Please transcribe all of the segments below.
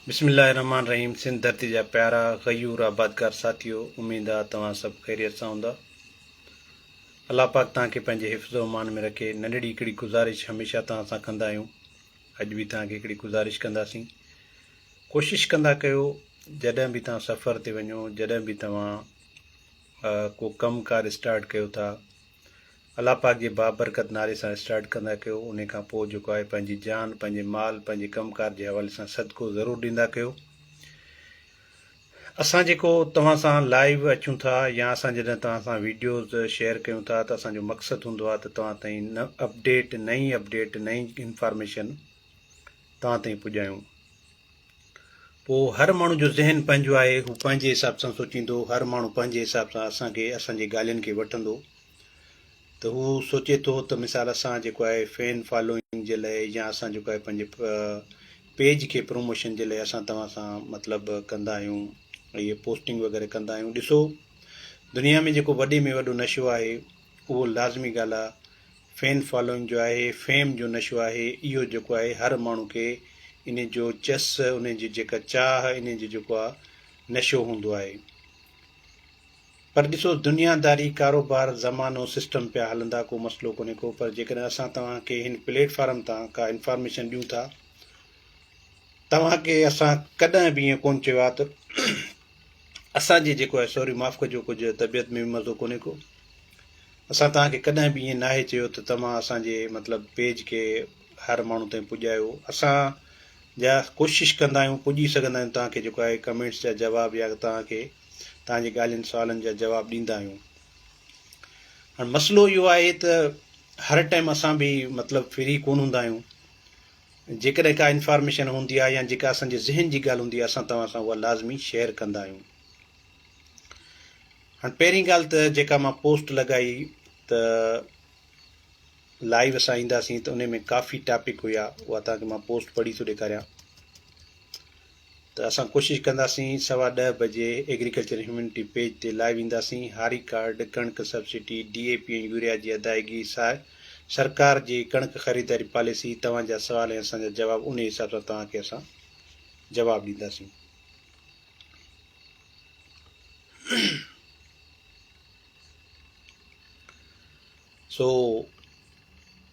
بسم الله الرحمٰن الرحيم سنڌ ڌرتي جا پيارا غيور آبادگار ساٿيو اميد آ توهان سڀ خيريت سان هوندا الله پاڪ توهان کي پنهنجي حفظ و امان ۾ رکي ننڍڙي هڪڙي گذارش هميشه توهان سان ڪندا آهيون اڄ به توهان کي هڪڙي گذارش ڪنداسين ڪوشش ڪندا ڪيو جڏهن به توهان سفر تي وڃو جڏهن به توهان ڪو ڪم ڪار اسٽارٽ ڪيو ٿا الله پاڪ جي بابرڪت نالي سان اسٽارٽ ڪندا ڪيو انهي کان پوء جيڪو آهي پنهنجي جان پنهنجي مال پنهنجي ڪم ڪار جي حوالي سان صدقو ضرور ڏيندا ڪيو اسان جيڪو توهان سان لائيو اچون ٿا يا اسان جڏهن توهان سان ويڊيوز شيئر ڪيون ٿا ته اسان جو مقصد هوندو آهي ته توهان تائين اپڊيٽ نئين اپڊيٽ نئين انفارميشن توهان تائين پڄايون پوء هر ماڻهو جو ذهن پنهنجو آهي هو پنهنجي حساب سان سوچيندو هر ماڻهو پنهنجي حساب سان اسان کي اسان جي ڳالهين کي وٺندو ته هو سوچي ٿو ته مثال اسان جيڪو آهي فين فالوئنگ جي لاء يا اسان جيڪو آهي پنهنجي پيج کي پروموشن جي لاء اسان توهان سان مطلب ڪندا آهيون اهي پوسٽنگ وغيره ڪندا آهيون ڏسو دنيا ۾ جيڪو وڏي ۾ وڏو نشو آهي اهو لازمي ڳالهه آهي فين فالوئنگ جو آهي فيم جو نشو آهي اهو جيڪو آهي هر ماڻهو کي ان جو چس ان جي جيڪا چاهه ان جو جيڪو آهي نشو هوندو آهي پر ڏسو دنيا داري، ڪاروبار، زمانو، سسٽم پيا هلندا ڪو مسئلو ڪونهي ڪو پر جيڪڏهن اسان توهان کي هن پليٽ فارم تان ڪا انفارميشن ڏيون ٿا توهان کي اسان ڪڏهن به ائين ڪون چيو آهي ته اسان جي جيڪو آهي سوري معاف ڪجو ڪجهه طبيعت ۾ به مزو ڪونهي ڪو اسان توهان کي ڪڏهن به ائين ناهي چيو ته توهان اسان جي مطلب پيج کي هر ماڻهو تائين پڄايو اسان جا ڪوشش ڪندا آهيون پڄي سگهندا آهيون توهان کي جيڪو آهي ڪمينٽس جا جواب يا توهان کي توهان جي ڳالهين سوالن جا جواب ڏيندا آهيون هاڻ مسئلو اهو آهي ته هر ٽائيم اسان به مطلب فري ڪون هوندا آهيون جيڪڏهن ڪا انفارميشن هوندي آهي يا جيڪا اسان جي ذهن جي ڳالهه هوندي آهي اسان توهان سان اها لازمي شيئر ڪندا آهيون هاڻ پهرين ڳالهه ته جيڪا مان پوسٽ لڳائي ته لائيو اسان اينداسين ته ان ۾ ڪافي ٽاپڪ هيا اها توهان کي مان پوسٽ پڙهي ٿو ڏيکاريان ته اسان ڪوشش ڪنداسين سوا ڏهه بجي ايگريڪلچر هيومينٽي پيج تي لائيو اينداسين هاري ڪارڊ ڪڻڪ subsidy D A P ۽ urea جي ادائيگي ساء سرڪار جي ڪڻڪ خريداري پاليسي توهان جا سوال ۽ اسان جا جواب انهي حساب سان توهان کي اسان جواب ڏينداسين سو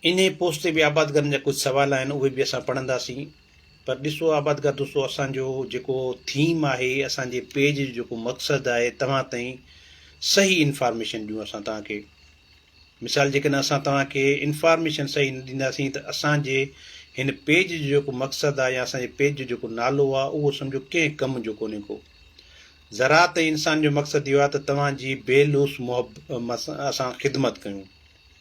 انهيء پوسٽ تي به آبادگارن جا ڪجهه سوال آهن، اهي به اسان پڙهنداسين. پر ڏسو آبادگار دوستو اسان جو جيڪو ٿيم آهي، اسان جي پيج جو جيڪو مقصد آهي، توهان تائين صحيح انفارميشن ڏيون اسان توهان کي. مثال جيڪڏهن اسان توهان کي انفارميشن صحيح نه ڏينداسين ته اسان جي هن پيج جو جيڪو مقصد آهي يا اسان جي پيج جو جيڪو نالو آهي، اهو سمجهو ڪنهن ڪم جو ڪونهي ڪو. زراعت ۽ انسان جو مقصد اهو آهي ته توهان جي بي لوث محب اسان خدمت ڪيون.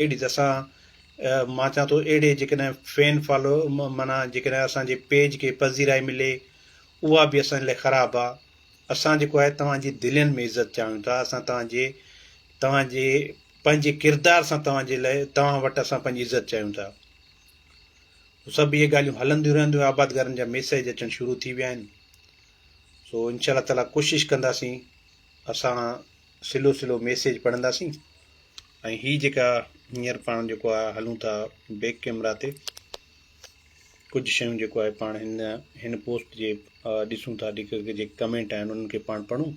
اهڙي ته اسان مان چان ٿو اهڙي جيڪڏهن فين فالو معنيٰ جيڪڏهن اسان جي پيج کي پذيرائي ملي اها به اسان جي لاء خراب آ اسان جيڪو آهي توهان جي دلين ۾ عزت چاهيون ٿا اسان توهان جي توهان جي پنهنجي ڪردار سان توهان جي لاء توهان وٽ اسان پنهنجي عزت چاهيون ٿا سڀ اهي ڳالهيون هلنديون رهنديون آبادگارن جا ميسيج اچڻ شروع ٿي ويا آهن سو انشاء الله تعالیٰ ڪوشش ڪنداسين اسان سلو سلو ميسيج پڙهنداسين ۽ هي جيڪا هينئر پاڻ جيڪو آهي هلون ٿا بيڪ ڪيمرا تي ڪجهه شيون جيڪو آهي پاڻ هن هن پوسٽ جي ڏسون ٿا جيڪي جيڪي ڪمينٽ آهن انهن کي پاڻ پڙهون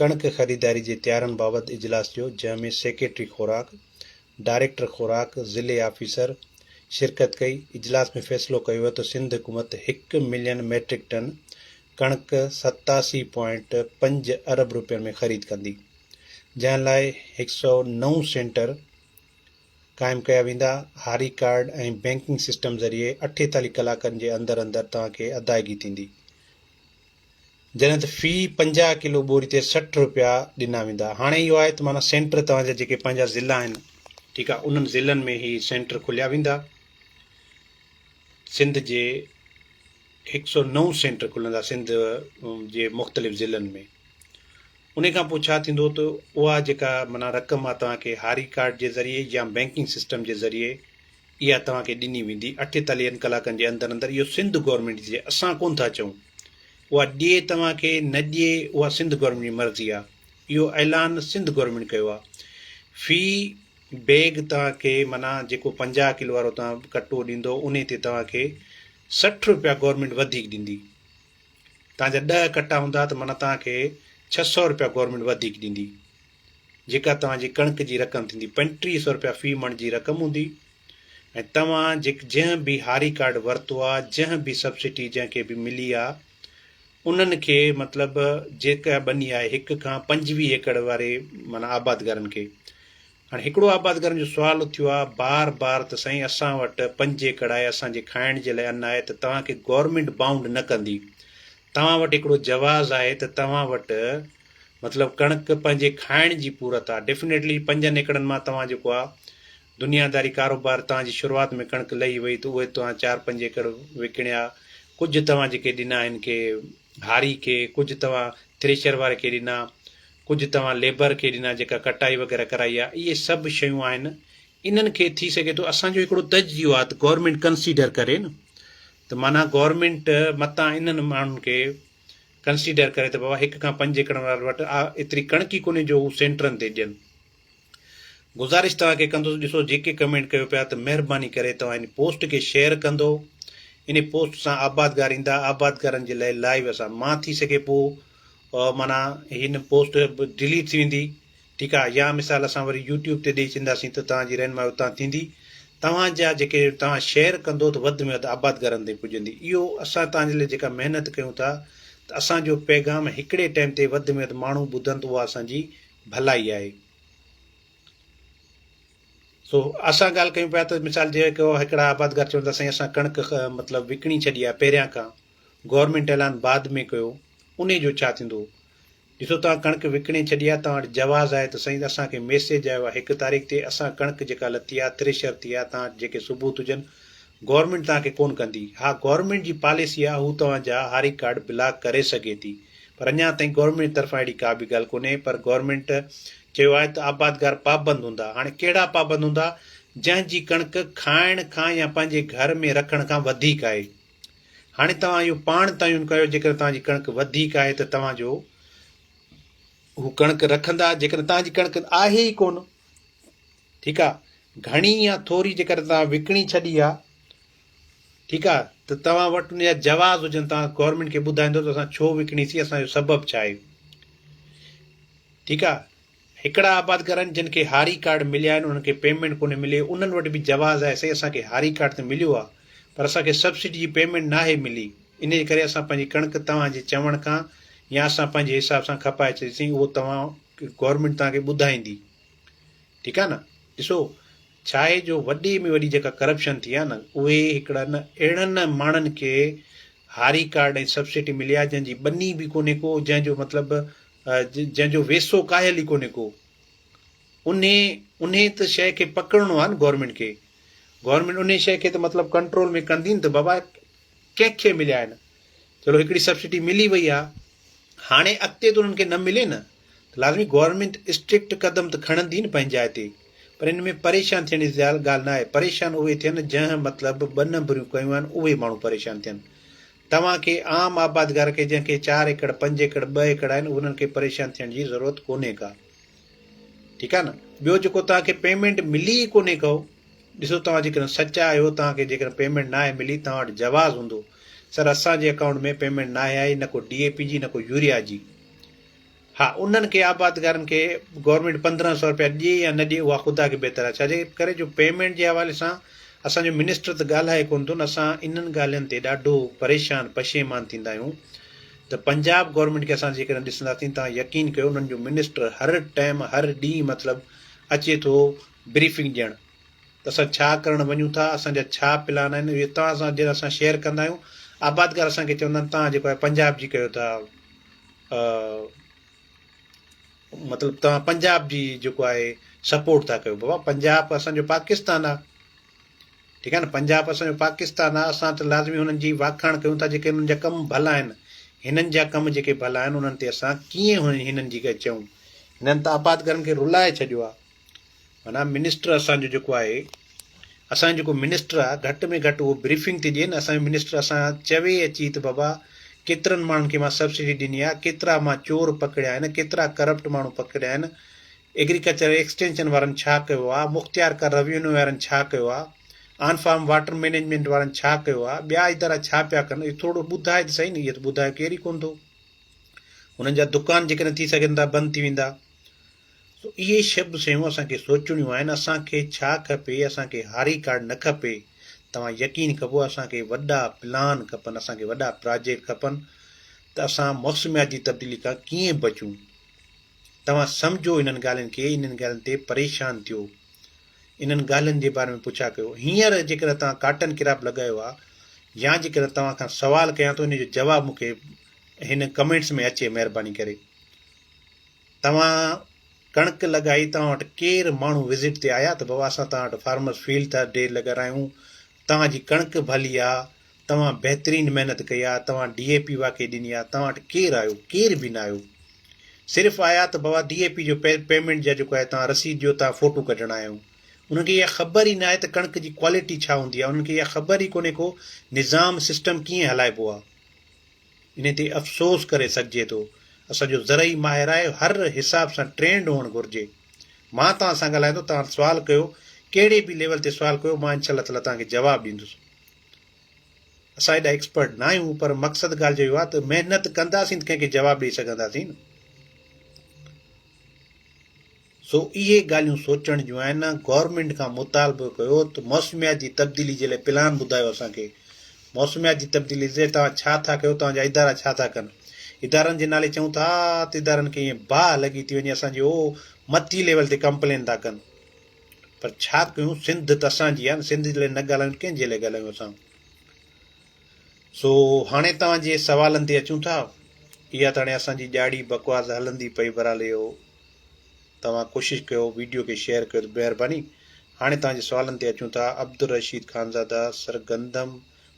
ڪڻڪ خريداري جي تيارن بابت اجلاس ٿيو، جنهن ۾ سيڪريٽري خوراڪ، ڊائريڪٽر خوراڪ، ضلعي آفيسر شرڪت ڪئي، اجلاس ۾ فيصلو ڪيو ويو ته سنڌ حڪومت هڪ ملين ميٽرڪ ٽن ڪڻڪ ستاسي پوائنٽ پنج ارب رپين ۾ خريد ڪندي، جنهن لاء هڪ سؤ نو سينٽر قائم ڪيا ويندا، هاري ڪارڊ ۽ بئنڪنگ سسٽم ذريعي اٺيتاليهه ڪلاڪن جي اندر اندر توهان کي ادائگي ٿيندي، جڏهن ته في پنجاهه ڪلو ٻوري تي سٺ رپيا ڏنا ويندا. هاڻي اهو آهي ته معنيٰ سينٽر توهان جا جيڪي پنهنجا ضلعا آهن ٺيڪ آهي انهن ضلعن ۾ هي سينٽر کوليا ويندا. سنڌ جي هڪ سؤ نو سينٽر کلندا سنڌ جي مختلف ضلعن ۾ ان کان پوء ڇا ٿيندو ته اها جيڪا معنيٰ رقم آهي توهان کي هاري ڪارڊ جي ذريعي يا بينڪنگ سسٽم جي ذريعي اها توهان کي ڏني ويندي اٺيتاليهن ڪلاڪن جي اندر اندر اهو سنڌ گورنمينٽ جي اسان ڪونه ٿا چئون اها ڏي توهان کي نه ڏي اها سنڌ گورنمينٽ جي مرضي آ اهو اعلان سنڌ گورنمينٽ ڪيو آ في بيگ توهان کي معنيٰ جيڪو پنجاهه ڪلو وارو توهان ڪٽو ڏيندو انهي تي توهان کي سٺ روپيا گورنمينٽ وڌيڪ ڏيندي توهان جا ڏهه ڪٽا هوندا ته معنيٰ توهان کي ڇهه سؤ روپيا گورنمينٽ وڌيڪ ڏيندي جيڪا توهان جي ڪڻڪ جي رقم ٿيندي، پنٽيهه سؤ رپيا في مڻ جي رقم هوندي ۽ توهان جيڪ جنهن به هاري ڪارڊ ورتو آ، جنهن به سبسڊي جنهن کي به ملي آ، انهن کي مطلب جيڪا ٻني آهي هڪ کان پنجويهه ايڪڙ واري معنيٰ آبادگارن کي. هاڻي هڪڙو آبادگارن جو سوال اٿيو آ بار بار ته سائين اسان وٽ پنج ايڪڙ آهي، اسان جي کائڻ جي لاء ان آهي ته توهان کي گورنمينٽ بائونڊ نه ڪندي. توهان وٽ هڪڙو جواز آهي ته توهان وٽ مطلب ڪڻڪ پنهنجي کائڻ جي پورت آ. ڊيفنيٽلي پنجن ايڪڙن مان توهان جيڪو آ دنياداري ڪاروبار توهان جي شروعات ۾ ڪڻڪ لهي وئي ته اهي توهان چار پنج ايڪڙ وڪڻيا ڪجهه توهان جيڪي ڏنا هن کي هاري کي ڪجهه توهان ٿريشر واري کي ڏنا ڪجهه توهان ليبر کي ڏنا جيڪا ڪٽائي وغيره ڪرائي آ اهي سڀ شيون آهن انهن کي ٿي سگهي ٿو اسان جو هڪڙو تجزيو آ ته گورنمينٽ ڪنسيڊر ڪري نه ته معنيٰ گورنمينٽ متان انهن ماڻهن کي ڪنسيڊر ڪري ته بابا هڪ کان پنج ايڪڙن وارن وٽ آ ايتري ڪڻڪ ئي ڪونهي جو هو سينٽرن تي ڏين. گذارش توهان کي ڪندس ڏسو جيڪي ڪمينٽ ڪيو پيا ته مهرباني ڪري توهان ان پوسٽ کي شيئر ڪندو انهي پوسٽ سان آبادگار ايندا آبادگارن جي لئي لائيو اسان مان ٿي سگهي پو معنيٰ هن پوسٽ ڊليٽ ٿي ويندي ٺيڪ آ يا مثال اسان وري يوٽيوب تي ڏئي چينداسين ته توهان جي رهنمائي اتان ٿيندي توهان جا جيڪي توهان شيئر ڪندو ته وڌ ۾ وڌ آباد گهرن تائين پڄندي اهو اسان توهان جي لاء جيڪا محنت ڪيون ٿا ته اسان جو پيغام هڪڙي ٽائيم تي وڌ ۾ وڌ ماڻهو ٻڌن ته اها اسان جي ڀلائي آهي سو اسان ڳالهه ڪيون پيا ته مثال جي ڪو هڪڙا آباد گهر چون ٿا سائين اسان ڪڻڪ مطلب وڪڻي ڇڏي آهي پهريان کان گورنمنٽ اعلان بعد ۾ ڪيو ان جو ڇا ٿيندو ڏسو توهان ڪڻڪ وڪڻي ڇڏي آ توهان وٽ جواز آهي ته سهي ته اسان کي ميسيج آيو آ هڪ تاريخ تي اسان ڪڻڪ جيڪا لٿي آ ٿريشر ٿي آ توهان وٽ جيڪي ثبوت هجن گورنمينٽ توهان کي ڪون ڪندي اها گورنمينٽ جي پاليسي آ هو توهان جا هاري ڪارڊ بلاڪ ڪري سگهي ٿي پر اڃان تائين گورنمينٽ جي طرفان اهڙي ڪا به ڳالهه ڪونهي پر گورنمينٽ چيو آهي ته آبادگار پابند هوندا هاڻي ڪهڙا پابند هوندا جنهن جي ڪڻڪ کائڻ کان يا پنهنجي گهر ۾ رکڻ کان وڌيڪ آهي هاڻي توهان اهو پاڻ تعين ڪيو جيڪڏهن توهان جي ڪڻڪ وڌيڪ آهي ته توهان جو هو ڪڻڪ رکندا جيڪڏهن توهان جي ڪڻڪ آهي ئي ڪونه ٺيڪ آ گھڻي يا ٿوري جيڪڏهن توهان وڪڻي ڇڏي آ ٺيڪ آ ته توهان وٽ ان جا جواز هجن توهان گورنمينٽ کي ٻڌائيندو ته اسان ڇو وڪڻي سي اسان جو سبب ڇا آهي ٺيڪ آ هڪڙا آبادگارن جن کي هاري ڪارڊ مليا آهن انهن کي پيمينٽ ڪونهي ملي انهن وٽ به جواز آهي سائين اسان کي هاري ڪارڊ ته مليو آهي پر اسان کي سبسڊي جي پيمينٽ ناهي ملي انهي جي ڪري اسان پنهنجي ڪڻڪ توهان جي چوڻ کان يا اسان پنهنجي حساب سان کپائي ڇڏيسين اهو توهان گورنمينٽ توهان کي ٻڌائيندي ٺيڪ آهي نه ڏسو ڇا آهي جو وڏي ۾ وڏي جيڪا ڪرپشن ٿي آهي نه اهي هڪڙا نه اهڙن ماڻهن کي هاري ڪارڊ ۽ سبسڊي ملي آهي جنهن جي ٻني به ڪونهي ڪو جنهن جو مطلب جنهن جو ويسو ڪاهيل ئي ڪونهي ڪو انهي انهي ته شيء کي پڪڙڻو آهي نه گورنمينٽ کي گورنمينٽ انهي شيء کي ته مطلب ڪنٽرول ۾ ڪندي نه ته بابا ڪنهن کي مليا آهن چلو هڪڙي سبسڊي ملي وئي آهي هاڻي اڳتي ته انهن کي نه ملي نه ته لازمي گورنمينٽ اسٽرڪٽ قدم ته کڻندي نه پنهنجي جاء تي پر ان ۾ پريشان ٿيڻ جي ڳالهه نه آهي پريشان اهي ٿين جنهن مطلب ٻه نمبريون ڪيون آهن اهي ماڻهو پريشان ٿين توهان کي عام آبادگار کي جنهن کي چار ايڪڙ پنج ايڪڙ ٻه ايڪڙ آهن انهن کي پريشان ٿيڻ جي ضرورت ڪونهي ڪا ٺيڪ آهي نه ٻيو جيڪو توهان کي پيمنٽ ملي ئي ڪونهي ڪو ڏسو توهان جيڪڏهن سچا آهيو توهان کي جيڪڏهن پيمنٽ ناهي ملي توهان وٽ جواز هوندو سر اسان جي اڪائونٽ ۾ پيمنٽ ناهي آئي نه ڪو ڊي اي پي جي نه ڪو يوريا جي ها انهن کي آبادگارن کي گورنمينٽ پندرهن سئو رپيا ڏي يا نه ڏي اها خدا کي بهتر آهي ڇاجي ڪري جو پيمينٽ جي حوالي سان اسان جو منسٽر ته ڳالهائي ڪونه ٿو نه اسان انهن ڳالهين تي ڏاڍو پريشان پشيمان ٿيندا آهيون ته پنجاب گورنمينٽ کي اسان جيڪڏهن ڏسنداسين توهان يقين ڪيو انهن جو منسٽر هر ٽائيم هر ڏينهن مطلب اچي ٿو بريفنگ ڏيڻ ته اسان ڇا ڪرڻ وڃون ٿا، اسان جا ڇا پلان آهن، اهي توهان سان جڏهن اسان شيئر ڪندا آهيون، آبادگار اسان کي چوندا آهن توهان جيڪو آهي پنجاب جي ڪيو ٿا، مطلب توهان پنجاب جي جيڪو آهي سپورٽ ٿا ڪيو، بابا پنجاب اسان جو پاڪستان آهي، ٺيڪ آهي نه، پنجاب اسان جو پاڪستان آهي، اسان ته لازمي هنن جي واکاڻ ڪيون ٿا جيڪي هنن جا ڪم ڀلا آهن، هنن جا ڪم جيڪي ڀلا آهن انهن تي اسان ڪيئن هنن جي ڪا چئون، هنن ته آبادگارن کي رلائي ڇڏيو آهي. معنيٰ منسٽر اسان جو جيڪو آهي اسان جو جيڪو منسٽر آهي گهٽ ۾ گهٽ اهو بريفنگ ته ڏئي نه اسان جو منسٽر اسان چوي اچي ته بابا ڪيترن ماڻهن کي مان سبسڊي ڏني آهي ڪيترا مان چور پڪڙيا آهن ڪيترا ڪرپٽ ماڻهو پڪڙيا آهن ايگريڪلچر ايڪسٽينشن وارن ڇا ڪيو آهي مختيار ڪر روينيو وارن ڇا ڪيو آهي آن فارم واٽر مينيجمنٽ وارن ڇا ڪيو آهي ٻيا ادارا ڇا پيا ڪن اهو ٿورو ٻڌائي ته سهي نه اهو ته ٻڌايو ڪير ئي ڪونه ٿو هنن جا دڪان جيڪڏهن ٿي سگهن ٿا بند ٿي ويندا سو اهي شب سيون اسان کي سوچڻيون آهن اسان کي ڇا کپي اسان کي هاري ڪارڊ نه کپي توهان يقين ڪبو اسان کي وڏا پلان کپن اسان کي وڏا پراجيڪٽ کپن ته اسان موسمياتي تبديلي کان ڪيئن بچون توهان سمجهو انهن ڳالهين کي انهن ڳالهين تي پريشان ٿيو انهن ڳالهين جي باري ۾ پڇا ڪيو هينئر جيڪڏهن توهان ڪاٽن ڪراپ لڳايو آهي يا جيڪڏهن توهان کان سوال ڪيان ٿو ان جو جواب مونکي هن ڪمينٽس ۾ اچي مهرباني ڪري توهان ڪڻڪ لڳائي توهان وٽ ڪير ماڻهو وزٽ تي آيا ته بابا اسان توهان وٽ فارمرس فيلڊ ٿا ڊي لڳ رايون توهان جي ڪڻڪ ڀلي آ توهان بهترين محنت ڪئي آ توهان ڊي اي پي واقعي ڏني آ توهان وٽ ڪير آيو ڪير به نه آيو صرف آيا ته بابا ڊي اي پي جو پيمنٽ جا جيڪو آهي توهان رسيد ڏيو توهان فوٽو ڪڍڻ آيا آهيون انهن کي اها خبر ئي نه آهي ته ڪڻڪ جي ڪوالٽي ڇا هوندي آ انهن کي اها خبر ئي ڪونهي ڪو نظام سسٽم ڪيئن هلائبو آ انهي تي افسوس ڪري سگهجي ٿو. اسان جو زرعي ماهر آهي هر حساب سان ٽرينڊ هئڻ گهرجي. مان توهان سان ڳالهائيندو توهان سوال ڪيو ڪهڙي به ليول تي سوال ڪيو مان انشاء الله تعالٰي توهان کي جواب ڏيندس. اسان ايڏا ايڪسپرٽ نه آهيون پر مقصد ڳالهه جو اهو آهي ته محنت ڪنداسين ته ڪنهن کي جواب ڏئي سگهنداسين نه. سو اهي ڳالهيون سوچڻ جون آهن، گورنمينٽ کان مطالبو ڪيو ته موسميات جي تبديلي جي لاء پلان ٻڌايو اسان کي، موسميات جي تبديلي جي لاء توهان ڇا ٿا ڪيو، توهان جا ادارا ڇا ٿا ڪن، ادارن جي نالي چئون ٿا ته ادارن کي ائين باهه لڳي ٿي وڃي اسان جي هو مٿي ليول تي ڪمپلين ٿا ڪن پر ڇا ڪيون سنڌ ته اسان جي آهي سنڌ جي لاء نه ڳالهايون ڪنهن جي لاء ڳالهايون اسان. سو هاڻي توهان جي سوالن تي اچون ٿا، اها ته هاڻي اسان جي ڄاڙي بڪواس هلندي پئي برحال اهو توهان ڪوشش ڪيو ويڊيو کي شيئر ڪيو ته مهرباني. هاڻي توهان جي سوالن تي اچون ٿا عبدالرشيد خانزاده سر گندم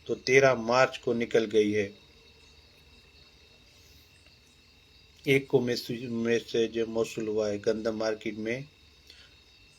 تو تيرهن مارچ ڪو نڪل گئي هي ايڪ ڪو ميسج موصول هوا هي گندم مارڪيٽ ۾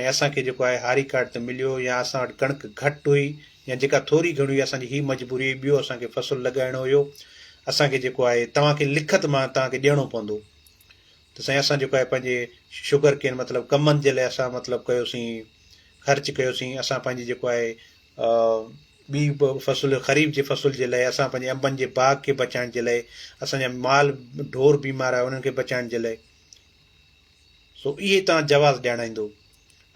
۽ اسان کي جيڪو آهي هاري ڪارڊ ته مليو يا اسان وٽ ڪڻڪ گهٽ هئي يا جيڪا ٿوري گهڻي هئي اسان جي هي مجبوري هئي ٻيو اسان کي فصل لڳائڻو هيو اسان کي جيڪو آهي توهان کي لکت مان توهان کي ڏيڻو پوندو ته سائين اسان جيڪو آهي پنهنجي شگر ڪين مطلب ڪمن جي لاء اسان مطلب ڪيوسين خرچ ڪيوسين اسان پنهنجي جيڪو آهي ٻي فصل خريف جي فصل جي لاء اسان پنهنجي انبن جي باغ کي بچائڻ جي لاء اسان جا مال ڍور بيمار آهي انهن کي بچائڻ جي لاء سو اهي تان جواز ڄاڻائيندو.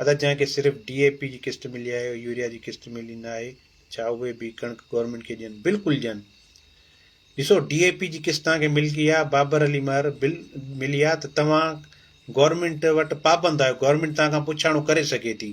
ادا جنهن کي صرف ڊي اي پي جي قسط ملي آهي او يوريا جي قسط ملي نه آهي ڇا اهي به ڪڻڪ گورنمينٽ کي ڏين بلڪل ڏين ڏسو ڊي اي پي جي قسط تان کي ملڪي آ بابر علي مهر بل ملي آ ته توهان گورنمينٽ وٽ پابند آهيو گورنمينٽ تان کان پڇاڻو ڪري سگهي ٿي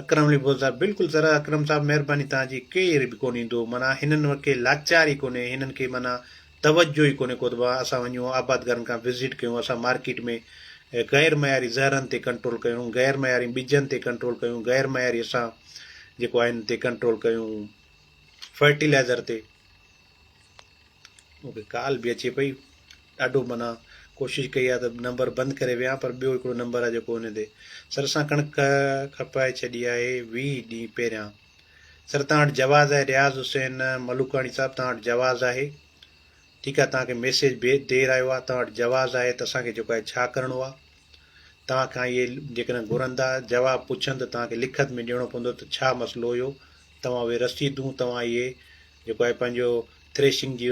اڪرم علي ڀول صاحب بلڪل زرا اڪرم صاحب مهرباني توهان جي ڪير به ڪون ايندو معنيٰ هنن کي لاچار ئي ڪونهي هنن کي معنيٰ توجه ئي ڪونهي ڪوتبه اسان وڃون آبادگارن کان وزٽ ڪيون اسان مارڪيٽ ۾ غير معياري زهرن تي ڪنٽرول ڪيون غير معياري ٻجن تي ڪنٽرول ڪيون غير معياري اسان جيڪو آهن تي ڪنٽرول ڪيون فرٽيلائزر تي مون کي ڪال به اچي پئي ڏاڍو منا ڪوشش ڪئي آهي ته نمبر بند ڪري ويهان پر ٻيو هڪڙو نمبر آهي جيڪو ان تي سر سان ڪڻڪ کپائي ڇڏي آهي ويهه ڏينهن پهريان سر تان وٽ جواز آهي رياض حسين ملوڪاڻي صاحب تان وٽ جواز آهي ٺيڪ آهي تان کي ميسيج بي دير آيو آهي تان وٽ جواز آهي ته اسان کي جيڪو آهي ڇا ڪرڻو آهي توهان کان اهي جيڪڏهن گهرندا، جواب پڇن ته توهان کي لکت ۾ ڏيڻو پوندو ته ڇا مسئلو هيو، توهان اهي رسيدون توهان اهي جيڪو آهي پنهنجو ٿريشنگ جي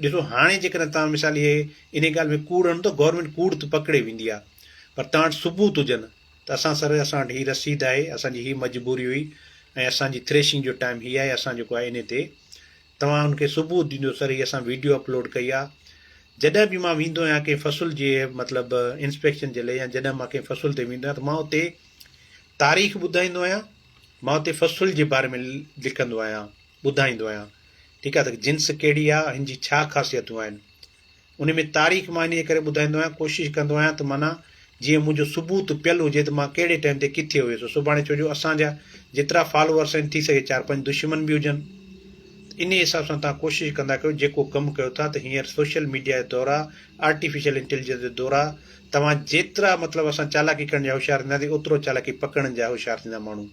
ڏسو هاڻي جيڪڏهن توهان مثال اهي انهي ڳالهه ۾ ڪوڙ هڻ ته گورنمينٽ ڪوڙ ته پڪڙي ويندي آهي پر توهان وٽ ثبوت هجن ته اسان سر اسان وٽ هي رسيد آهي اسان جي هي مجبوري هئي ۽ اسان جي ٿريشنگ جو ٽائيم هي آهي اسان جيڪو آهي انهي تي توهان ان کي ثبوت ڏيندو سر هي اسان ويڊيو اپلوڊ ڪئي آ جڏهن به مان ويندو آهيان ڪنهن فصل جي مطلب انسپيڪشن جي لئي يا جڏهن مان ڪنهن فصل تي ويندو آهيان ته مان اتي تاريخ ٻڌائيندو آهيان مان اتي فصل جي باري ۾ لکندو آهيان ٻڌائيندو آهيان ٺيڪ آهي ته جنس ڪهڙي آ هن جي ڇا خاصيتون آهن انهي ۾ تاريخ مان انهيء ڪري ٻڌائيندو آهيان، ڪوشش ڪندو آهيان ته معنيٰ جيئن منهنجو ثبوت پيل هجي ته مان ڪهڙي ٽائيم تي ڪٿي هيس سڀاڻي ڇو جو اسان جا جيترا فالوورس آهن ٿي سگهي چار پنج دشمن به هجن ته انهي حساب سان توهان ڪوشش ڪندا ڪيو جيڪو ڪم ڪيو ٿا ته هينئر سوشل ميڊيا جا دور آ آرٽيفيشل انٽيليجنس جو دور آ توهان جيترا مطلب اسان چالاڪي ڪرڻ جا هوشيار ٿينداسين اوترو چالاڪي پڪڙڻ جا هوشيار ٿيندا ماڻهو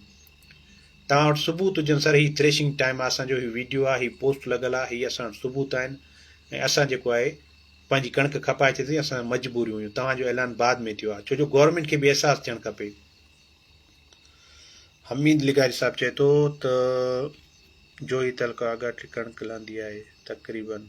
توهان وٽ ثبوت هجن سر هي ٿريشنگ ٽائيم آ اسان جو هي ويڊيو آ هي پوسٽ لڳل آ هي اسان وٽ ثبوت آهن ۽ اسان جيڪو آهي پنهنجي ڪڻڪ کپائي ٿي ٿي اسان مجبوريون هيون توهان جو اعلان بعد ۾ ٿيو آ ڇو جو گورنمينٽ کي به احساس ٿيڻ کپي حميد لغاري صاحب چئي ٿو ته جوهي تعلقه آگاٽي ڪڻڪ لهندي آهي تقريبن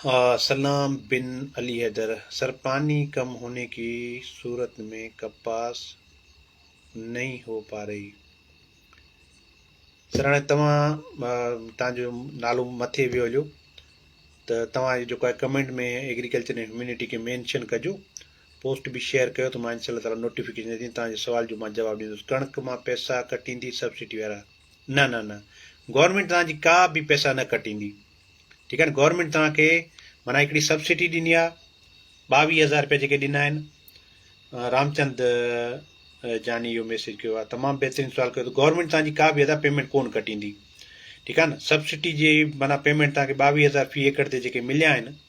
ها سلام بن علي حيدر سرپاني ڪم هوني ڪي صورت مين ڪپاس نهي هو پا رهي سر هاڻي توهان تان جو نالو مٿي ويو هليو ته توهان جي جيڪو آهي ڪمينٽ ۾ ايگريڪلچر ۽ هيومينٽي کي مينشن ڪجو پوسٽ به شيئر ڪيو ته مان انشاء الله تعالی نوٽيفڪيشن اچي توهان جي سوال جو مان جواب ڏيندس ڪڻڪ مان پئسا ڪٽيندي سبسڊي وارا نه نه نه گورنمينٽ توهان جي ڪا به پئسا نه ڪٽيندي ٺيڪ آهي نه گورنمينٽ توهان کي معنيٰ هڪڙي سبسڊي ڏني آهي ٻاويهه هزار روپيا جيڪي ڏنا آهن رامچند جاني اهو ميسج ڪيو آهي تمام بهترين سوال ڪيو اٿو گورنمينٽ توهان جي ڪا به ادا پيمنٽ ڪون ڪٽيندي ٺيڪ آهي نه سبسڊي جي معنيٰ پيمنٽ توهان کي ٻاويهه هزار في ايڪڙ تي جيڪي مليا آهن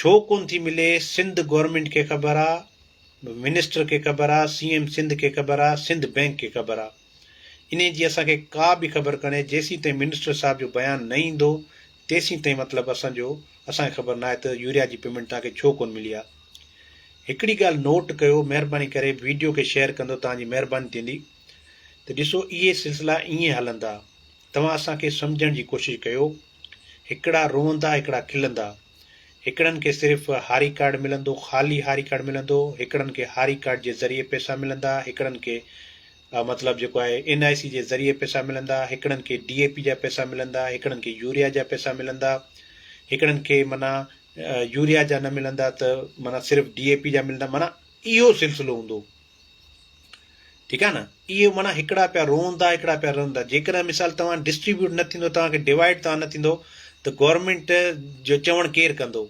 ڇو ڪون ٿي ملي سنڌ گورنمينٽ کي خبر آ منسٽر کي خبر آ سي ايم سنڌ کي خبر آ سنڌ بينڪ کي خبر آ انهي جي اسان کي ڪا به خبر ڪونهي جيسين تائين منسٽر صاحب جو بيان نه ايندو تيسين تائين مطلب اسان جو اسان کي خبر ناهي ته يوريا جي پيمنٽ توهان کي ڇو ڪون ملي آ هڪڙي ڳالهه نوٽ ڪيو مهرباني ڪري ويڊيو کي شيئر ڪندو توهان جي مهرباني ٿيندي ته ڏسو اهي سلسلا ائين هلندا توهان اسان کي سمجهڻ جي ڪوشش ڪيو. هڪڙا روئندا هڪڙا کلندا. هڪڙن کي صرف هاري ڪارڊ ملندو خالي هاري ڪارڊ ملندو هڪڙن کي هاري ڪارڊ جي ذريعي پئسا ملندا هڪڙن کي مطلب جيڪو آهي اين آء سي جي ذريعي پئسا ملندا هڪڙن کي ڊي اي پي جا پئسا ملندا هڪڙن کي يوريا جا پئسا ملندا هڪڙن کي منا يوريا جا نه ملندا ته منا صرف ڊي اي پي جا ملندا منا اهو سلسلو هوندو ٺيڪ آهي نه اهي معنيٰ هڪڙا پيا روئن ٿا هڪڙا پيا رئن ٿا جيڪڏهن مثال توهان ڊسٽريبيوٽ نه ٿيندو توهان کي ڊوائيڊ توهان نه ٿيندو ته گورنمينٽ جو چوڻ ڪير ڪندو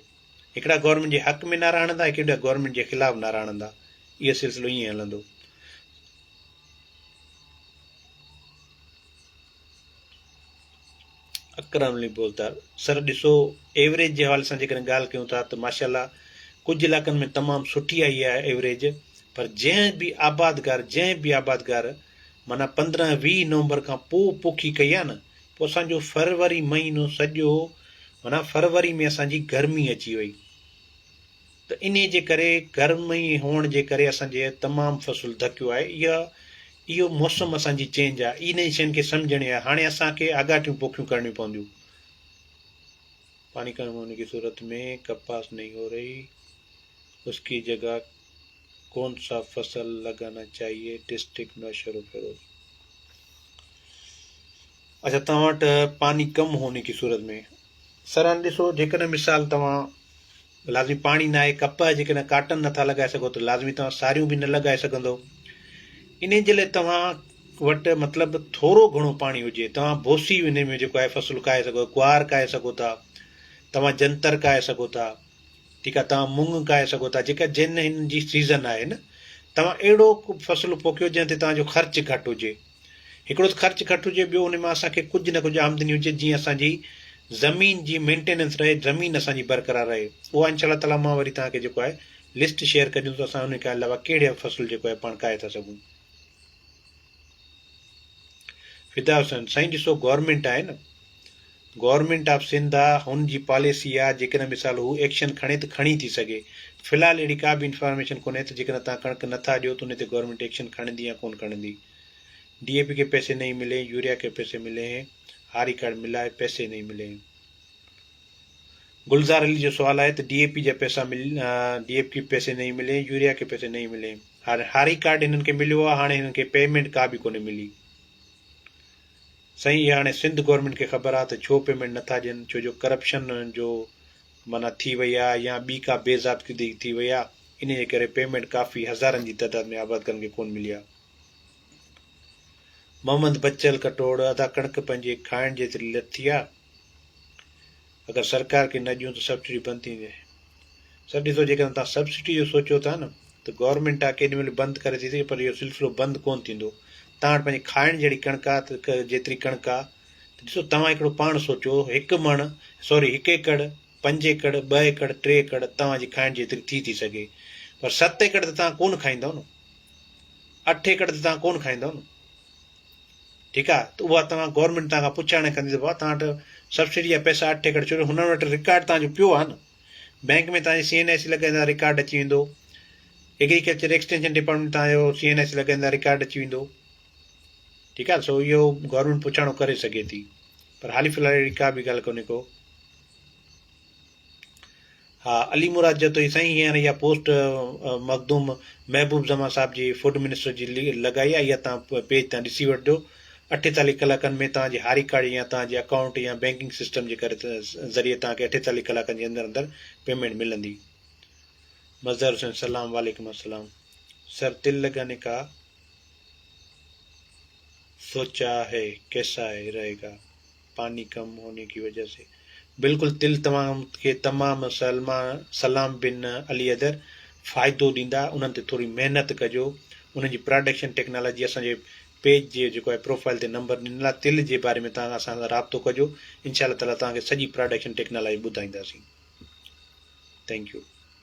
هڪڙا گورنمينٽ جي حق ۾ نعرا هڻندا هڪڙا گورنمينٽ جي خلاف نعرا هڻندا اهو سلسلو ائين هلندو اڪرم علي بوزدار سر ڏسو ايوريج جي حوالي سان جيڪڏهن ڳالهه ڪيون ٿا ته ماشاءالله ڪجهه علائقن ۾ تمام سٺي آئي آهي ايوريج پر جنهن به آبادگار جنهن به آبادگار معنيٰ پندرهن ويهه نومبر کان پوء پوکي ڪئي آهي نه پوء اسان جو فروري مهينو سڄو معنيٰ فروري ۾ اسان جي گرمي اچي وئي ته انهي جي ڪري گرمي هئڻ جي ڪري اسان جي تمام فصل ڌڪيو آهي اها اهو موسم اسان جي چينج آهي اي نئين شين کي سمجهڻي آهي هاڻي اسان کي آڳاٽيون پوکيون ڪرڻيون پونديون پاڻي ڪرڻ هون ان کي صورت ۾ ڪپاس نئين هو رهي اس کي جگا کون سا فصل لگانا چاهيي ڊسٽرڪٽ نوشهرو فيروز اچھا توهان وٽ پاني ڪم هوني ڪي صورت ۾ سران ڏسو جيڪڏهن مثال توهان لازمي پاڻي نه آهي، ڪپهه آهي، جيڪڏهن ڪاٽن نٿا لڳائي سگهو ته لازمي توهان ساريون به نه لڳائي سگهندو. انهي جي لاء توهان وٽ مطلب ٿورو گهڻو پاڻي هجي. توهان بوسي انهي ۾ جيڪو آهي فصل ڪاهي سگهو، گوار ڪاهي سگهو ٿا، توهان جنتر ڪاهي سگهو ٿا، ٺيڪ آهي، توهان مڱ ڪاهي سگهو ٿا، جيڪا جنهن هن جي سيزن آهي نه، توهان اهڙو ڪو فصل پوکيو جنهن تي توهان جو خرچ گهٽ هجي. هڪڙو ته خرچ گهٽ هجي ٻيو ان مان اسان کي ڪجهه نه ڪجهه آمدني هجي جيئن اسان جي زمين جي مينٽيننس رهي زمين اسان جي برقرار رهي اها انشاء الله تعالي مان وري توهان کي جيڪو آهي لسٽ شيئر ڪجون ته اسان ان کان علاوه ڪهڙي فصل جيڪو آهي پاڻ کائي ٿا سگهون فدا حسين سائين ڏسو گورنمينٽ آهي نه گورنمينٽ آف سنڌ آ هن جي پاليسي آ جيڪڏهن مثال هو ايڪشن کڻي ته کڻي ٿي سگهي في الحال اهڙي ڪا به انفارميشن ڪونهي ته جيڪڏهن توهان ڪڻڪ نه ٿا ڏيو ته انهي تي گورنمينٽ ايڪشن کڻندي يا ڪون کڻندي ڊي اي پي ڪي پيسي نهي ملي هين يوريا ڪي پيسي ملي هين آ ريڪارڊ ملا هي پيسي نهي ملي هين گلزار علي جو سوال آهي ته ڊي اي پي جا پيسا مل ڊي اي پي ڪي پيسي نهي ملي هين يوريا ڪي پيسي نهي ملي هين هاري ڪارڊ هنن کي مليو آ هاڻي هنن کي پيمينٽ ڪا به ڪونهي ملي سائين اها هاڻي سنڌ گورنمينٽ کي خبر آ ته ڇو پيمينٽ نه ٿا ڏين ڇو جو ڪرپشن جو معنيٰ ٿي وئي آ يا ٻي ڪا بي ضابطگي ٿي وئي آ انهي جي ڪري پيمينٽ ڪافي هزارن جي تعداد ۾ آبادگارن کي ڪون ملي آ. محمد بچل ڪٽوڙ ادا ڪڻڪ پنهنجي کائڻ جيتري لٿي آ. اگر سرڪار کي نه ڏيون ته سبسڊي بند ٿي ويندي. سر ڏسو جيڪڏهن توهان سبسڊي جو سوچيو ٿا نه ته گورنمينٽ آ ڪيڏي مهل بند ڪري ٿي سگهي پر اهو سلسلو بند ڪونه ٿيندو. توهان وٽ پنهنجي کائڻ جهڙي ڪڻڪ آ ته جيتري ڪڻڪ آ ته ڏسو توهان هڪڙو پاڻ سوچو هڪ مڻ سوري هڪ ايڪڙ، پنج ايڪڙ، ٻه ايڪڙ، ٽي ايڪڙ توهان جي کائڻ جيتري ٿي ٿي سگهي پر ست ايڪڙ ته توهان ڪونه کائيندؤ نه. اٺ ايڪڙ ته توهان ڪونه کائيندؤ نه. ٺيڪ آ ته اها توهان گورنمينٽ توهان کان پڇاڻي ڪندي ته بابا توهان وٽ سبسڊي جا پئسا اٺ ايڪڙ چوري هنن وٽ رڪارڊ توهان جو پيو آ نه بئنڪ ۾ توهان جي سي اين آء سي لڳائيندا رڪارڊ اچي ويندو ايگريڪلچر ايڪسٽينشن ڊپارٽمينٽ توهان جو سي اين آء سي لڳائيندا رڪارڊ اچي ويندو ٺيڪ آ سو اهو گورنمينٽ پڇاڻو ڪري سگهي ٿي پر حالي في الحال اهڙي ڪا به ڳالهه ڪونهي ڪو ها علي مراد چئي ٿو ته سائين هينئر اها پوسٽ مخدوم محبوب زمان صاحب جي فوڊ منسٽر جي لڳائي آهي اها توهان پيج تان ڏسي وٺجو اٺيتاليھ ڪلاڪن ۾ توهان جي هاري ڪارڊ يا توهان جي اڪائونٽ يا بينڪنگ سسٽم جي ڪري ذريعي توهان کي اٺيتاليھ ڪلاڪن جي اندر اندر پيمنٽ ملندي مظهر حسين سلام وعليڪم السلام سر تل لگانے کا سوچا هي ڪيسا هي رهي گا پاني ڪم هوني ڪي وجه سي بلڪل دل توهان کي تمام سلما سلام بن علي حيدر فائدو ڏيندا انهن تي ٿوري محنت ڪجو انهن جي پراڊڪشن ٽيڪنالاجي اسان جي پيج جي جيڪو آهي پروفائل تي نمبر ڏنل آهي تل جي باري ۾ تان اسان سان رابطو ڪجو انشاء الله تعالي توهان کي سڄي پراڊڪشن ٽيڪنالاجي ٻڌائينداسين ٿينڪ يو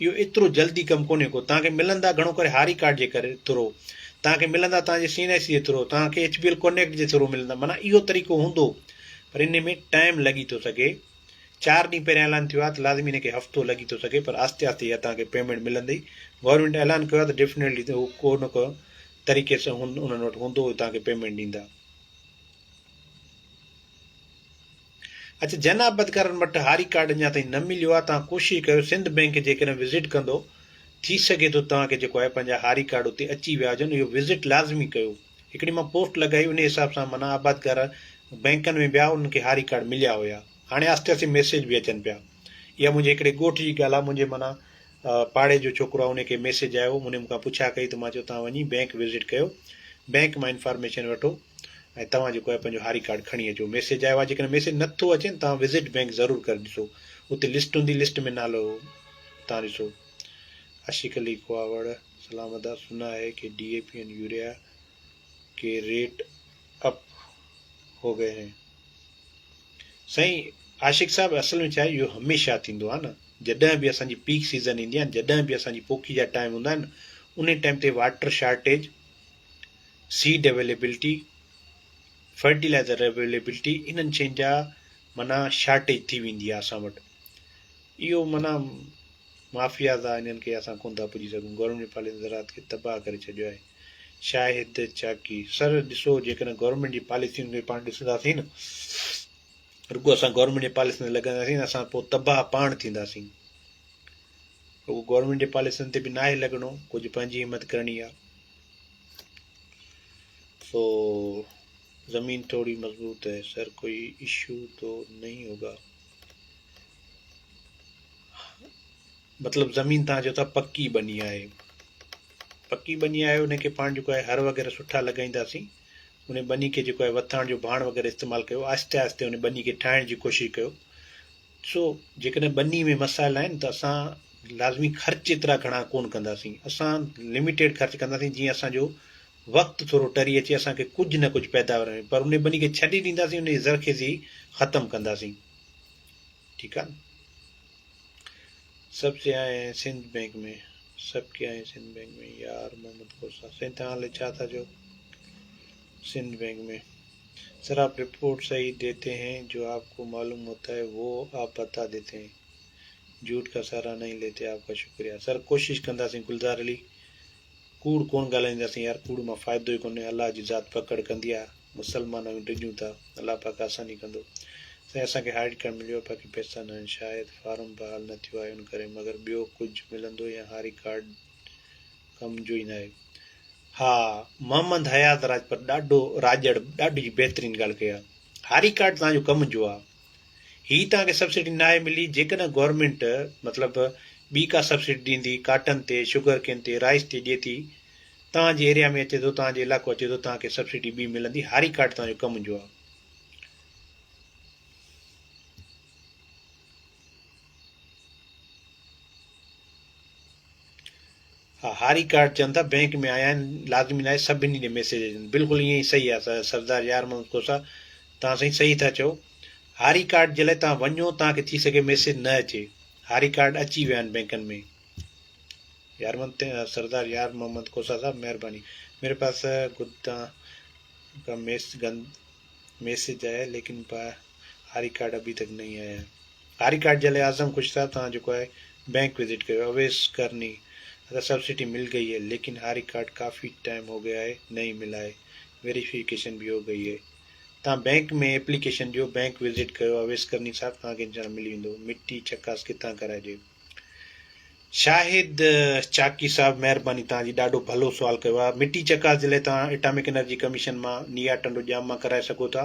اهو ايترو جلدي ڪم ڪونهي ڪو توهان کي ملندا گهڻو ڪري هاري ڪارڊ جي ڪري ٿرو توهان کي ملندا توهان جي سي اين آء سي جي ٿرو توهان کي ايڇ بي ايل ڪونيڪٽ جي ٿرو ملندا معنيٰ اهو طريقو هوندو پر ان ۾ ٽائيم لڳي ٿو سگهي چار ڏينهن پهريان اعلان ٿيو آهي ته لازمي ان کي هفتو لڳي ٿو سگهي پر آهستي آهستي اها توهان کي پيمينٽ ملندي گورنمينٽ اعلان ڪيو آهي ته ڊيفنيٽلي ته هو ڪو نه ڪو طريقي سان انهن وٽ هوندو توهان کي پيمينٽ ڏيندا اچ جناب بدڪارن وٽ هاري ڪارڊ اڃا تائين نه مليو آهي توهان ڪوشش ڪيو سنڌ بئنڪ جيڪڏهن وزٽ ڪندو ٿي سگهي ٿو توهان کي جيڪو آهي پنهنجا هاري ڪارڊ اتي اچي ويا هجن اهو وزٽ لازمي ڪيو هڪڙي مان پوسٽ لڳائي انهي حساب سان منا آبادگار بئنڪن ۾ ويا انهن کي هاري ڪارڊ مليا هيا هاڻي آهستي آهستي ميسيج به اچن پيا اها منهنجي هڪڙي ڳوٺ جي ڳالهه آهي منهنجي منا پاڙي جو ڇوڪرو آهي انهي کي ميسيج آيو انهي مون کان پڇا ڪئي ته مان چيو توهان وڃي بئنڪ وزٽ ڪيو بئنڪ مان انفارميشن وٺو ۽ توهان جيڪو آهي پنهنجو هاري ڪارڊ کڻي اچو ميسيج آيو آهي جيڪڏهن ميسيج نه ٿو اچي نه توهان وزٽ بينڪ ضرور ڪري ڏسو اتي لسٽ هوندي لسٽ ۾ نالو توهان ڏسو عشق علي کواوڙ سلام ادا سنا هي ڪي D A P and urea ڪي ريٽ اپ هو گئي هين سائين عاشق صاحب اصل ۾ چاهي اهو هميشه ٿيندو آهي نه جڏهن به اسان جي پيڪ سيزن ايندي آهي جڏهن به اسان جي پوکي جا ٽائيم هوندا آهن ان ٽائيم تي water shortage seed availability, fertilizer availability انهن شين جا معنيٰ شارٽيج ٿي ويندي آهي اسان وٽ اهو معنيٰ مافياز آهي انهن کي اسان ڪونه ٿا پڄي سگهون گورنمينٽ جي پاليسين زراعت کي تباهه ڪري ڇڏيو آهي شاهد چاڪي سر ڏسو جيڪڏهن گورنمينٽ جي پاليسين کي پاڻ ڏسنداسين رڳو اسان گورنمينٽ جي پاليسين تي لڳنداسين اسان پوء تباهه پاڻ ٿينداسين رڳو گورنمينٽ جي پاليسين تي به ناهي لڳڻو ڪجهه پنهنجي همت ڪرڻي آهي سو زمين ٿوري مضبوط هي سر ڪوئي اشو تو نهي هوگا مطلب زمين تان جو ٿا پڪي بني آهي پڪي بني آهي ان کي پاڻ جو ڪوئي هر وغيره سٺا لڳائيندا سي ان بني کي جو ڪوئي وٿان جو ڀاڻ وغيره استعمال ڪيو آهستي آهستي ان بني کي ٺاهڻ جي ڪوشش ڪيو ڏسو جيڪڏهن ٻني ۾ مسائل آهن ته اسان لازمي خرچ ايترا گهڻا ڪون ڪنداسين اسان لميٽيڊ خرچ ڪنداسين جيئن اسان جو وقت ٿورو ٽري اچي اسان کي ڪجهه نه ڪجهه پيداوار ملي پر ان ٻني کي ڇڏي ڏينداسين ان جي زرخيزي ختم ڪنداسين ٺيڪ آهي نه سڀ سياح آهي سنڌ بئنڪ ۾ سڀ ڪي آهي سنڌ بئنڪ ۾ يار محمد کوسا سائين توهان هلي ڇا ٿا چئو سنڌ بينڪ مين سر آپ رپورٽ صحيح ديتي هين جو آپ ڪو معلوم هوتا هي وو آپ بتا ديتي هين جهوٽ ڪا سهارا نهين ليتي آپ ڪا شڪريا سر ڪوشش ڪنداسين گلزار علي ڪوڙ ڪونه ڳالهائينداسين يار ڪوڙ مان فائدو ئي ڪونهي الله جي ذات پڪڙ ڪندي آهي مسلمان آهيون ڊڄون ٿا الله پاڪ آساني ڪندو سائين اسان کي هارڊ ڪارڊ مليو آهي باقي پئسا نه آهن شايد فارم بحال نه ٿيو آهي ان ڪري مگر ٻيو ڪجهه ملندو يا هاري ڪارڊ ڪم جو ئي ناهي. ها محمد حيات راجپت ڏاڍو راڄڙ ڏاڍي بهترين ڳالهه ڪئي آ هاري ڪارڊ توهان جو ڪم جو آ هي توهان کي سبسڊي ناهي ملي جيڪڏهن گورنمينٽ مطلب ٻي ڪا سبسڊي ڏيندي ڪاٽن تي شگر ڪين تي رائس تي ڏي ٿي توهان جي ايريا ۾ اچي ٿو توهان جو علائقو اچي ٿو توهان کي سبسڊي ٻي ملندي هاري ڪارڊ توهان جو ڪم جو آ ها هاري ڪارڊ چون ٿا بينڪ ۾ آيا آهن لازمي ناهي سڀني ڏي ميسيج اچن بلڪل ائين ئي صحيح آهي سردار يار محمد کوسا تان سائين صحيح ٿا چئو هاري ڪارڊ جي لاء تان وڃو تان کي ٿي سگهي ميسيج نه اچي هاري ڪارڊ اچي ويا آهن بينڪن ۾ يار محمد سردار يار محمد کوسا صاحب مهرباني ميري پاس گدا کا ميس گند ميسيج آيا ليڪن پا آري ڪارڊ ابھي تڪ نھي آيا ھي آري ڪارڊ جي لاء اعظم خوش صاحب توھان جيڪو آھي بينڪ وزٽ ڪريو اويس ڪرني ادا سبسڊي مل گئي ھي ليڪن آري ڪارڊ ڪافي ٽائيم ھو گيا ھي نھي ملا ھي ويريفيڪيشن بي ھو گئي ھي توھان بينڪ ۾ ايپليڪيشن ڏيو بينڪ وزٽ ڪيو اويس ڪرني صاحب توھان کي انشاء ملي ويندو مٽي چڪاس ڪٿان ڪرائجي شاهد چاڪي صاحب مهرباني توهان جي ڏاڍو ڀلو سوال ڪيو آهي مٽي چڪاس جي لاء توهان اٽامڪ انرجي ڪميشن مان نيا ٽنڊو ڄام مان ڪرائي سگهو ٿا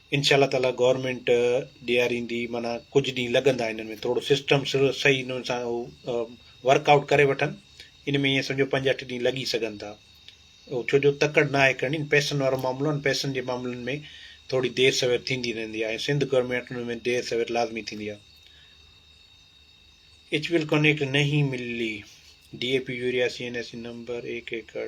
انشاء الله تعاليٰ گورنمينٽ ڏياريندي معنيٰ ڪجهه ڏينهن لڳندا انهن ۾ ٿورڙو سسٽم صحيح انهن سان هو ورڪ آئوٽ ڪري وٺن ان ۾ ائين سمجهو پنج اٺ ڏينهن لڳي سگهن ٿا هو ڇو جو تڪڙ ناهي ڪرڻي پئسن وارو معاملو آهن پئسن جي معاملن ۾ ٿورڙي دير سوير ٿيندي رهندي آهي ۽ سنڌ گورنمينٽ ان ۾ دير سوير لازمي ٿيندي آهي ايچ ويل ڪونيڪٽ نهين ملي D A P urea C N I C number ايڪ ايڪڙ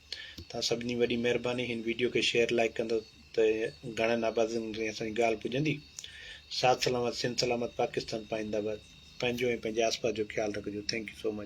توهان سڀني وڏي مهرباني هن ويڊيو کي شيئر لائڪ ڪندو ته گهڻن آبادين تائين اسان جي ڳالهه پڄندي ساٿ سلامت سنڌ سلامت پاڪستان پائنده آباد پنهنجو ۽ پنهنجي آس پاس جو خيال رکجو ٿينڪ يو سو مچ